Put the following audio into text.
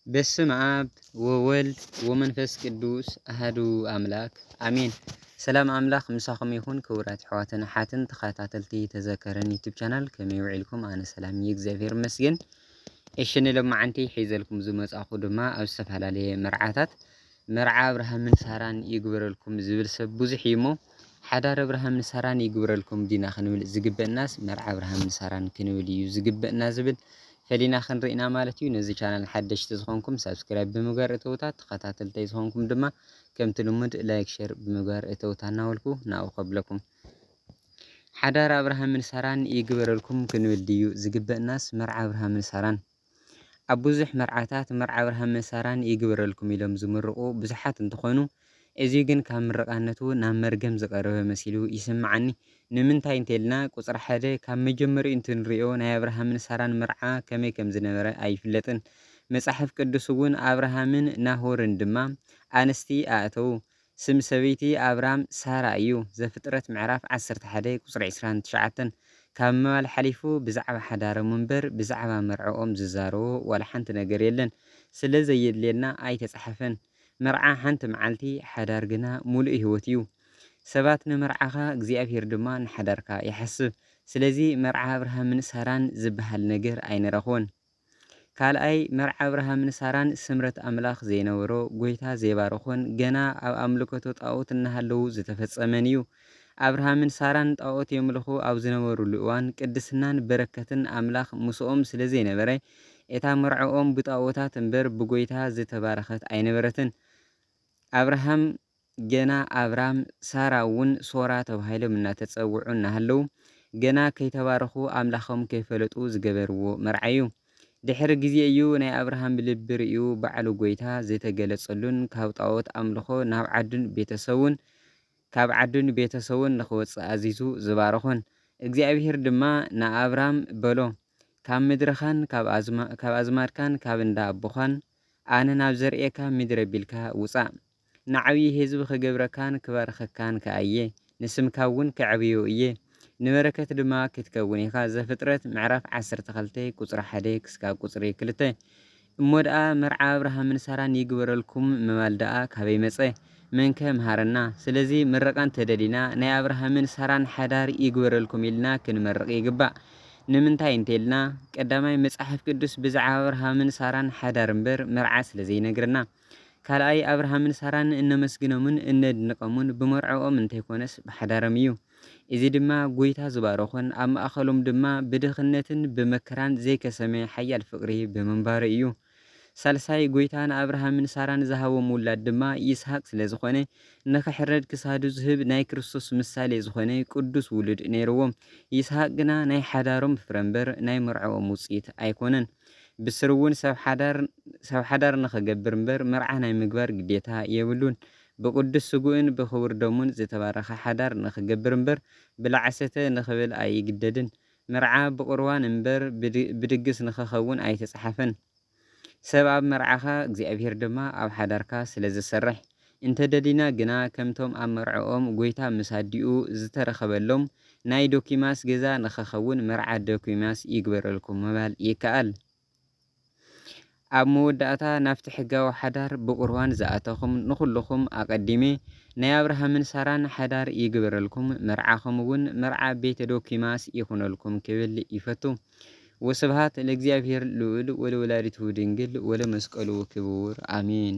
በስም አብ ወወልድ ወመንፈስ ቅዱስ አህዱ አምላክ አሜን። ሰላም አምላክ ምሳኹም ይኹን ክቡራት ኣሕዋትን ኣሓትን ተኸታተልቲ ተዘከረን ዩቱብ ቻናል ከመይ ውዒልኩም? ኣነ ሰላም እዩ እግዚኣብሔር ይመስገን። እሺ ንሎማዓንቲ ሒዘልኩም ዝመጻኹ ድማ ኣብ ዝተፈላለየ መርዓታት መርዓ ኣብርሃምን ሳራን ይግበረልኩም ዝብል ሰብ ብዙሕ እዩ እሞ ሓዳር ኣብርሃምን ሳራን ይግበረልኩም ዲና ክንብል ዝግበእናስ መርዓ ኣብርሃምን ሳራን ክንብል እዩ ዝግበእና ዝብል ፈሊና ክንርኢና ማለት እዩ። ነዚ ቻናል ሓደሽቲ ዝኾንኩም ሳብስክራይብ ብምግባር እተውታ ተኸታተልተይ ዝኾንኩም ድማ ከምቲ ልሙድ ላይክ ሸር ብምግባር እተውታ እናበልኩ ናብኡ ከብለኩም። ሓዳር ኣብርሃምን ሳራን ይግበረልኩም ክንብል ድዩ ዝግበእናስ መርዓ ኣብርሃምን ሳራን? ኣብ ብዙሕ መርዓታት መርዓ ኣብርሃም ምስ ሳራን ይግበረልኩም ኢሎም ዝምርቑ ብዙሓት እንትኾኑ እዚ ግን ካብ ምርቓነቱ ናብ መርገም ዝቐረበ መሲሉ ይስምዓኒ ንምንታይ እንተልና ቁፅሪ ሓደ ካብ መጀመሪኡ እንትንሪኦ ናይ ኣብርሃምን ሳራን መርዓ ከመይ ከምዝነበረ ኣይፍለጥን መፃሕፍ ቅዱስውን ኣብርሃምን ናሆርን ድማ ኣንስቲ ኣእተዉ ስም ሰበይቲ ኣብራም ሳራ እዩ፣ ዘፍጥረት ምዕራፍ ዓሰርተ ሓደ ቁጽሪ ዕስራን ትሽዓተን። ካብ ምባል ሓሊፉ ብዛዕባ ሓዳሮም እምበር ብዛዕባ መርዕኦም ዝዛረቦ ዋላ ሓንቲ ነገር የለን፣ ስለ ዘየድልየና ኣይተጻሕፈን። መርዓ ሓንቲ መዓልቲ፣ ሓዳር ግና ምሉእ ህይወት እዩ። ሰባት ንመርዓኻ እግዚኣብሄር ድማ ንሓዳርካ ይሓስብ። ስለዚ መርዓ ኣብርሃምን ሳራን ዝበሃል ነገር ኣይንረኽቦን። ካልኣይ መርዓ ኣብርሃምን ሳራን ስምረት ኣምላኽ ዘይነበሮ፣ ጎይታ ዘይባረኾን ገና ኣብ ኣምልከቶ ጣኦት እናሃለዉ ዝተፈጸመን እዩ። ኣብርሃምን ሳራን ጣኦት የምልኹ ኣብ ዝነበርሉ እዋን ቅድስናን በረከትን ኣምላኽ ምስኦም ስለ ዘይነበረ እታ መርዕኦም ብጣኦታት እምበር ብጎይታ ዝተባረኸት ኣይነበረትን። ኣብርሃም ገና ኣብራም ሳራ እውን ሶራ ተባሂሎም እናተፀውዑ እናሃለዉ ገና ከይተባረኹ ኣምላኾም ከይፈለጡ ዝገበርዎ መርዓ እዩ። ድሕሪ ግዜ እዩ ናይ ኣብርሃም ብልቢ ርእዩ ባዕሉ ጎይታ ዝተገለፀሉን ካብ ጣኦት ኣምልኾ ናብ ዓዱን ቤተሰቡን ካብ ዓዱን ቤተሰቡን ንኽወፅእ ኣዚዙ ዝባረኾን። እግዚኣብሄር ድማ ንኣብራም በሎ ካብ ምድርኻን ካብ ኣዝማድካን ካብ እንዳ ኣቦኻን ኣነ ናብ ዘርእየካ ምድሪ ኣቢልካ ውፃእ። ንዓብዪ ህዝቢ ኽገብረካን ክባርኸካን ከኣ እየ፣ ንስምካ እውን ከዕብዮ እየ፣ ንበረከት ድማ ክትከውን ኢኻ ዘፍጥረት ምዕራፍ ዓሰርተ ክልተ ቁፅሪ ሓደ ክስካብ ቁፅሪ ክልተ እሞ ደኣ መርዓ ኣብርሃምን ሳራን ይግበረልኩም ምባል ደኣ ካበይ መፀ መንከ ምሃረና ስለዚ ምርቃ እንተደሊና ናይ ኣብርሃምን ሳራን ሓዳር ይግበረልኩም ኢልና ክንመርቅ ይግባእ ንምንታይ እንተልና ቀዳማይ መፅሓፍ ቅዱስ ብዛዕባ ኣብርሃምን ሳራን ሓዳር እምበር መርዓ ስለዘይነግረና ካልኣይ፣ ኣብርሃምን ሳራን እነመስግኖምን እነድንቐሙን ብመርዕኦም እንተይኮነስ ብሓዳርም እዩ። እዚ ድማ ጎይታ ዝባረኾን ኣብ ማእኸሎም ድማ ብድኽነትን ብመከራን ዘይከሰመ ሓያል ፍቕሪ ብምንባሩ እዩ። ሳልሳይ፣ ጎይታ ንኣብርሃምን ሳራን ዝሃቦም ውላድ ድማ ይስሃቅ ስለዝኾነ ንክሕረድ ክሳዱ ዝህብ ናይ ክርስቶስ ምሳሌ ዝኾነ ቅዱስ ውሉድ ነይርዎም። ይስሃቅ ግና ናይ ሓዳሮም ፍረምበር ናይ መርዕኦም ውፅኢት ኣይኮነን። ብስሩ'ውን ሰብ ሓዳር ሰብ ሓዳር ንኽገብር እምበር መርዓ ናይ ምግባር ግዴታ የብሉን። ብቅዱስ ስግኡን ብክቡር ደሙን ዝተባረኸ ሓዳር ንኽገብር እምበር ብላዕሰተ ንኽብል ኣይግደድን። መርዓ ብቅርዋን እምበር ብድግስ ንኽኸውን ኣይተጽሓፈን። ሰብ ኣብ መርዓኻ እግዚኣብሔር ድማ ኣብ ሓዳርካ ስለዝሰርሕ። እንተ ደሊና ግና ከምቶም ኣብ መርዕኦም ጎይታ ምስ ኣዲኡ ዝተረኸበሎም ናይ ዶኪማስ ገዛ ንኸኸውን መርዓ ዶኪማስ ይግበረልኩም ምባል ይከኣል። ኣብ መወዳእታ ናብቲ ሕጋዊ ሓዳር ብቁርባን ዝኣተኹም ንኹልኹም ኣቐዲመ ናይ ኣብርሃምን ሳራን ሓዳር ይግበረልኩም መርዓኹም እውን መርዓ ቤተ ዶኪማስ ይኹነልኩም ክብል ይፈቱ። ወስብሃት ለእግዚኣብሔር ልዑል ወለወላዲቱ ድንግል ወለመስቀሉ ክቡር ኣሜን።